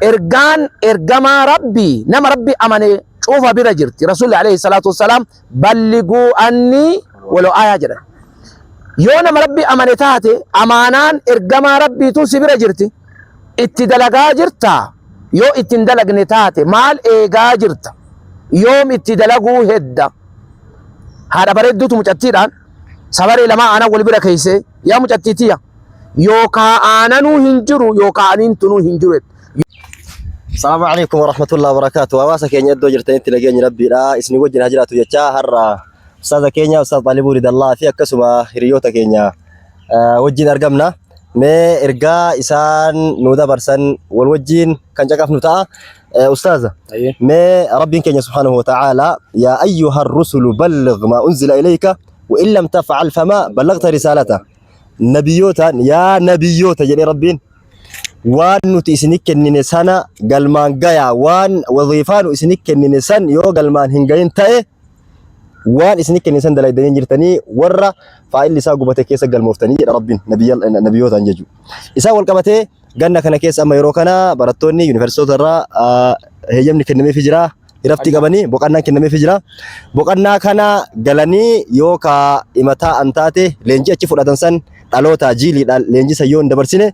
Ergaan ergamaa Rabbii nama Rabbi amane cufa bira jirti. Rasuulli alayhi salaatu wassalaam balliguu annii walo aayaa jedhan. Yoo nama Rabbi amane taate amaanaan ergamaa Rabbiitu si bira jirti. Itti dalagaa jirtaa? Yoo itti hin dalagne taate maal eegaa jirta? Yoom itti dalaguu hedda? Haadha bareedduutu mucattiidhaan sabaree lamaa aanan wal bira keeysee yaa mucattii tiyya yookaa aananuu hin jiru yookaa aniin tunuu hin jiru jette. Salaamu alaikum wa rahmatullahi wa barakaatu. Hawaasa keenya iddoo jirtanitti nageenyi rabbiidha. Isin wajjin haa jiraatu jechaa har'a ustaaza keenya ustaaz Xaalibuu Ridallaa fi akkasuma hiriyoota keenya eh, wajjin argamna. Mee ergaa isaan nu dabarsan wal wajjin kan caqafnu ta'a. Eh, Ustaaza, Ayyee. mee rabbiin keenya subhaanahu wa ta'aalaa yaa ayyuha rusulu balligh maa unzila ilayka wa in lam taf'al famaa ballagta risaalata. nabiyootaan yaa nabiyoota jedhe rabbiin waan nuti isini kennine sana galmaan gayaa waan waziifaa nu isini kennine san yoo galmaan hin gahin ta'e waan isini kennine san dalaydanii hin jirtanii warra faayilli isaa gubate keessa galmooftanii jedha rabbiin nabiyootaan jechuudha. Isaa wal qabatee Ganna kana keessa amma yeroo kana barattoonni yuunivarsiitota irraa heeyyamni kennameefii jira. Iraftii qabanii boqannaan kennameefii jira. Boqannaa kana galanii yoo ka imataa an taate leenjii achi fudhatan san dhalootaa jiiliidhaan leenjii san yoo hin dabarsine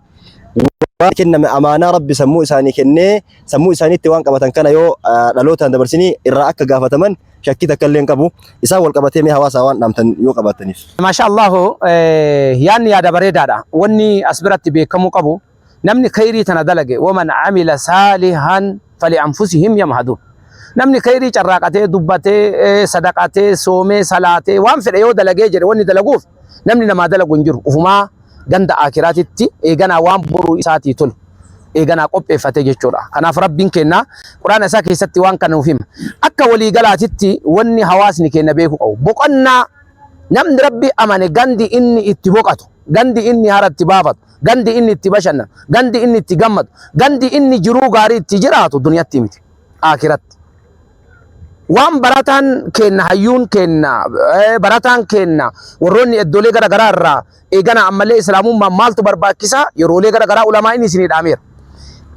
waan kenname amaanaa rabbi sammuu isaanii kennee sammuu isaaniitti waan qabatan kana yoo dhalootaan dabarsinii irraa akka gaafataman shakkii takka illee hin qabu. Isaan wal qabatee mee hawaasaa waan dhaamtan yoo qabaattaniif. Maashaa Allaahu yaadni yaada bareedaadha. Wanni as biratti beekamuu qabu namni khayrii tana dalage waman amila saalihan fali anfusihim yamhadu. Namni khayrii carraaqatee dubbatee sadaqatee soomee salaatee waan fedhe yoo dalagee jedhe wanni dalaguuf namni namaa dalagu hin jiru. Ufumaa ganda aakiraatitti eeganaa waan boruu isaatii tolu eeganaa qopheeffate jechuudha. Kanaaf Rabbiin keenna Quraana isaa keessatti waan kana nuuf hima. Akka walii galaatitti wanni hawaasni keenna beeku qabu. Boqonnaa namni Rabbi amane gandi inni itti boqatu, gandi inni hara itti baafatu, gandi inni itti bashannanu, gandi inni itti gammadu, gandi inni jiruu gaarii itti jiraatu duniyatti miti. Aakiratti. Waan barataan keenna, hayyuun keenna, barataan keenna warroonni iddoolee gara garaa irraa eeganaa ammallee Islaamummaan maaltu barbaachisa yeroolee gara garaa ulamaa'iin isinii dhaameera.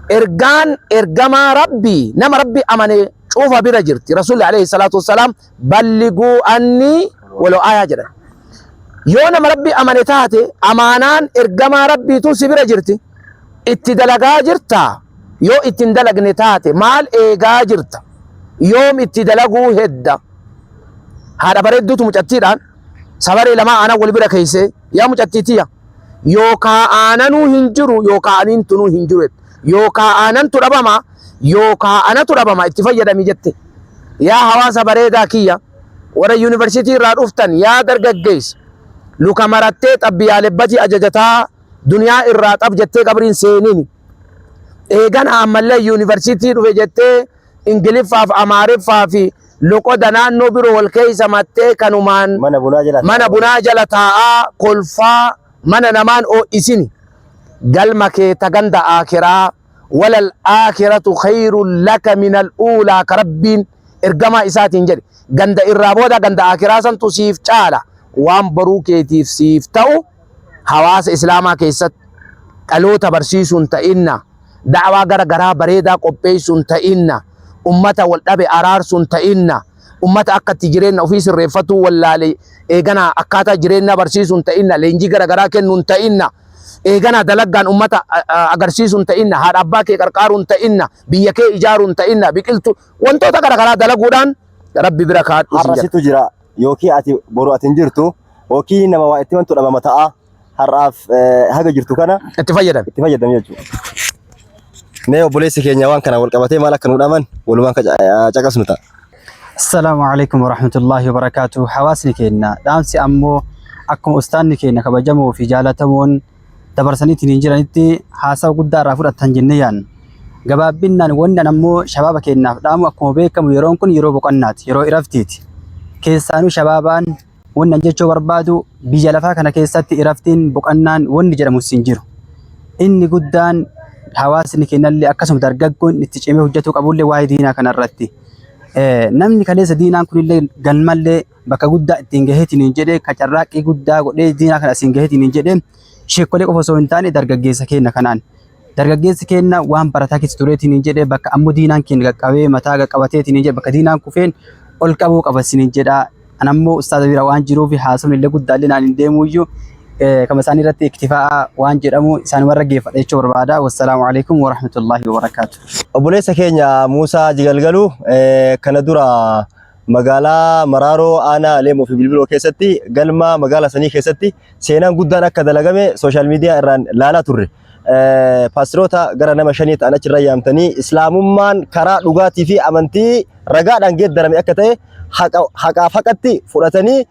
Ergaan ergamaa Rabbii nama Rabbi amane cufa bira jirti. Rasuulli alayhi salaatu wassalaam balliguu anni walo aayaa jedhan. Yoo nama Rabbi amane taate amaanaan ergamaa Rabbiitu si bira jirti. Itti dalagaa jirtaa? Yoo itti hin dalagne taate maal eegaa jirta? Yoom itti dalaguu hedda? Haadha bareedduutu mucattiidhaan sabaree lamaa aanan wal bira keessee yaa mucattii tiya yookaa aananuu hin jiru yookaa aniin tunuu hin jiru jette. Yookaa aanantu dhabama yookaa anatu dhabama itti fayyadami jette. Yaa hawaasa bareedaa kiyya warra yuunivarsiitii irraa dhuftan yaa dargaggeessa luka marattee xabbiyaalebbatii ajajataa Duniyaa irraa xab jettee qabrii hin seenini. Eegan ammallee yuunivarsiitii dhufe jettee Ingiliffaaf Amaariffaa fi loqoda naannoo biroo wal keessa mattee kanumaan Mana bunaa jala mana bunaa jala taa'aa kolfaa mana namaan oo'isini. Galma kee ta ganda aakiraa walal aakiratu khayrun laka minal uulaa ka rabbiin ergamaa isaatiin jedhe. Ganda irraa booda ganda aakiraa santu siif caala waan boruu keetiif siif ta'u. Hawaasa Islaamaa keessatti dhaloota barsiisuun ta'inna, da'waa gara garaa bareedaa qopheessuun ta'inna, ummata wal dhabe araarsuun ta'inna, ummata akka itti jireenna ofii sirreeffatuu wallaale eegana akkaataa jireenyaa barsiisuun ta'inna, leenjii gara garaa kennuun ta'inna, eegana dalaggaan ummata agarsiisuun ta'inna, haadha abbaa kee qarqaaruun ta'inna, biyya kee ijaaruun ta'inna, biqiltuu wantoota gara garaa dalaguudhaan Rabbi bira kaadhuu sin jedha. Har'a situ jira. Yookii ati boru ati hin jirtu yookii nama waa itti mantu dhabama ta'a har'aaf haga jirtu kana itti fayyadami itti fayyadami jechuudha. Mee obboleessi keenya waan kana wal qabatee maal akka nu dhaman walumaan caqasnu ta'a. Assalaamu alaikum warahmatullahi wabarakaatu. Hawaasni keenya dhaamsi ammoo akkuma ustaanni keenya kabajamoo fi jaalatamoon dabarsanii ittiin jiranitti haasawa guddaa irraa fudhattan jennee yaadna. Gabaabbinnaan wanni ammoo shabaaba keenyaaf dhaamu akkuma beekamu yeroon kun yeroo boqannaati, yeroo iraftiiti. Keessaanuu shabaabaan wanni an jechuu barbaadu biyya lafaa kana keessatti iraftiin boqannaan wanni jedhamu siin jiru. Inni guddaan hawaasni keenyallee akkasuma dargaggoon itti cimee hojjetuu qabullee waa'ee diinaa kanarratti. Namni kaleessa diinaan kunillee galmallee bakka guddaa ittiin gaheetiin jedhee ka carraaqqii guddaa godhee diinaa kana asiin gaheetiin jedhee sheekolee qofa osoo hin taane dargaggeessa keenya kanaan dargaggeessi keenya waan barataa keessa tureetiin jedhee bakka ammoo diinaan keenya qaqqabee mataa qaqqabateetiin jedhe bakka diinaan kufeen ol qabuu qabasin jedha an ammoo ustaaza bira waan jiruuf haasofni illee guddaa illee naan hin deemuyyuu kama isaanii irratti iktifaa'a waan jedhamu isaan warra geeffadha jechuu barbaada wassalaamu alaikum warahmatullaahi wabarakaatu. Obboleessa keenya Muusaa Jigalgaluu kana dura Magaalaa Maraaroo Aanaa Leemoo fi Bilbiloo keessatti galma magaalaa sanii keessatti seenaan guddaan akka dalagame sooshaal miidiyaa irraan laalaa turre. Paastiroota gara nama shanii ta'an achirra yaamtanii Islaamummaan karaa dhugaatii fi amantii ragaadhaan geeddarame akka ta'e haqaaf haqatti fudhatanii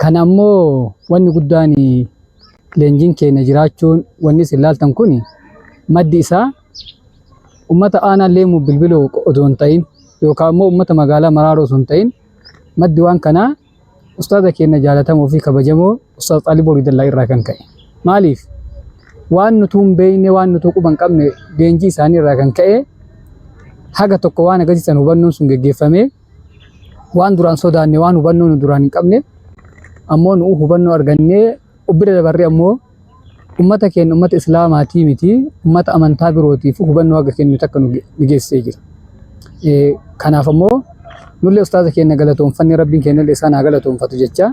Kan ammoo wanni guddaan leenjiin keenya jiraachuun wanni isin laaltan kun maddi isaa ummata aanaa leemuu bilbiloo odoo hin ta'in yookaan immoo ummata magaalaa maraaroo osoo hin ta'in maddi waan kanaa ustaaza keenya jaalatamoo fi kabajamoo ustaaz xaaliboo ridallaa irraa kan ka'e. Maaliif? Waan nutuu hin beekne waan nutuu quba hin qabne leenjii isaanii irraa kan ka'e haga tokko waan agarsiisan hubannoon sun geggeeffamee waan duraan sodaanne waan hubannoo nu duraan hin qabne ammoo nu hubannoo argannee ubbira dabarree ammoo ummata keenya ummata islaamaatii miti ummata amantaa birootiif hubannoo haga kennu takka nu geessee jira. Kanaaf ammoo nullee ustaaza keenya galatoomfanne rabbiin keenya illee isaan haa galatoomfatu jecha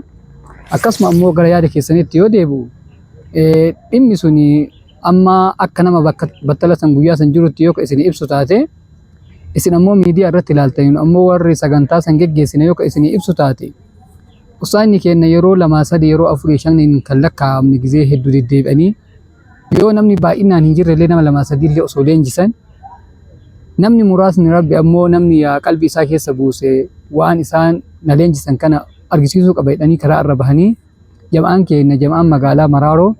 akkasuma ammoo gara yaada keessanitti yoo deebi'u dhimmi suni Amma akka nama bakka battala san guyyaa san jirutti yoo ka isin ibsu taate, isin ammoo miidiyaa irratti ilaaltanii nu ammoo warri sagantaa san geggeessine yoo ka isin ibsu taate, ustaazni keenna yeroo lamaa sadii yeroo afurii shaniin kan lakkaa'amne gizee hedduu deddeebi'anii yoo namni baay'inaan hin jirrellee nama lamaa sadiillee osoo leenjisan namni muraasni rabbi ammoo namni yaa qalbii isaa keessa buuse waan isaan na leenjisan kana argisiisuu qaba jedhanii karaa irra bahanii Jama'aan keenya jama'aan magaalaa Maraaroo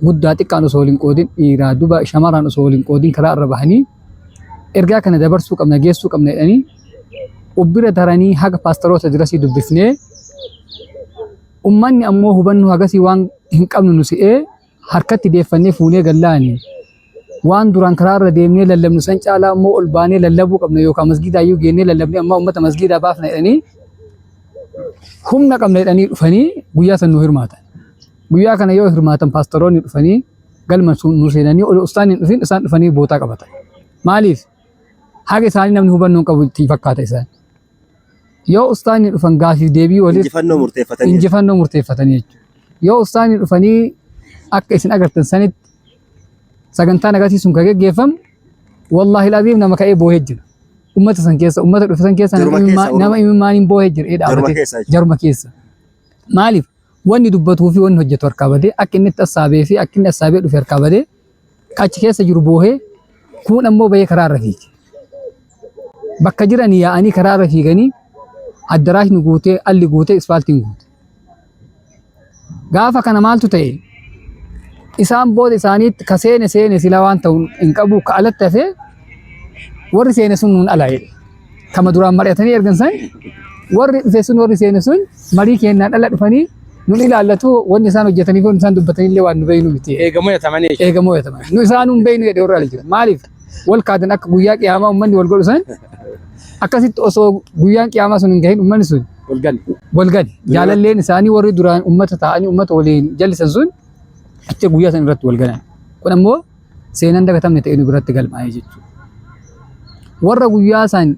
guddaa xiqqaan osoo waliin qoodin dhiiraa duba shamarraan osoo waliin qoodin karaa irra bahanii ergaa kana dabarsuu qabna geessuu qabna jedhanii ubbira taranii haga paastaroota dirasii dubbifnee ummanni ammoo hubannoo hagasii waan hin qabnu nu si'ee harkatti deeffannee fuunee galla ani. Waan duraan karaa irra deemnee lallabnu san caalaa immoo ol baanee lallabuu qabna yookaan masgiidaa iyyuu geennee lallabnee ammaa uummata masgiidaa baafna jedhanii humna qabna jedhanii dhufanii guyyaa san nu hirmaatan. Guyyaa kana yoo hirmaatan paastaroonni dhufanii galma sun nu seenanii ol ustaan hin dhufin isaan dhufanii bootaa qabatan. Maaliif? Haga isaanii namni hubannoo hin qabu itti fakkaata isaan. Yoo ustaanni dhufan gaafiif deebii waliif Injifannoo murteeffatanii. injifannoo murteeffatanii jechuudha. Yoo ustaanni dhufanii akka isin agartan sanitti sagantaan agarsiisuun kan geggeeffamu wallaahi laziim nama ka'ee boohee jira. Ummata san keessa ummata dhufe san keessa Jaruma nama keessa, imimmaa- nama imimmaaniin boohee jira. ee Jaruma dhaabatee- keessa jechuudha. Jaruma keessa. Maaliif? Wanni dubbatuu fi wanni hojjetu harkaa badee akka inni itti assaabee fi akka inni assaabee dhufe harkaa badee ka achi keessa jiru boohe, kuun ammoo bahee karaa irra fiige. Bakka jiran yaa'anii karaa irra fiiganii addaraashni guutee, alli guutee, ispaaltiin guute. Gaafa kana maaltu ta'e? Isaan booda isaaniitti ka seene seene sila waan ta'u hin qabu ka alatti hafee warri seene sun nuun ala jedhe. Kama duraan mari'atanii ergan san warri dhufe sun warri seene sun marii keenyaan dhala dhufanii nun ilaallatu wanni isaan hojjetanii kun isaan dubbatanii illee waan nu beeynu miti. Eegamoo yatamanii jechuudha. Eegamoo yataman. Nu isaan nun beeynu jedhe warra ala jira. Maaliif? Wal kaatan akka guyyaa qiyaamaa uummanni wal godhu san akkasitti osoo guyyaan qiyaamaa sun hin gahin uummanni sun Wal gani. wal gadi. Jaalalleen isaanii warri duraan uummata ta'anii uummata waliin jallisan sun achi guyyaa san irratti wal galan. Kun ammoo seenaan dagatamne ta'ee nu biratti galmaa'ee jechuudha. Warra guyyaa san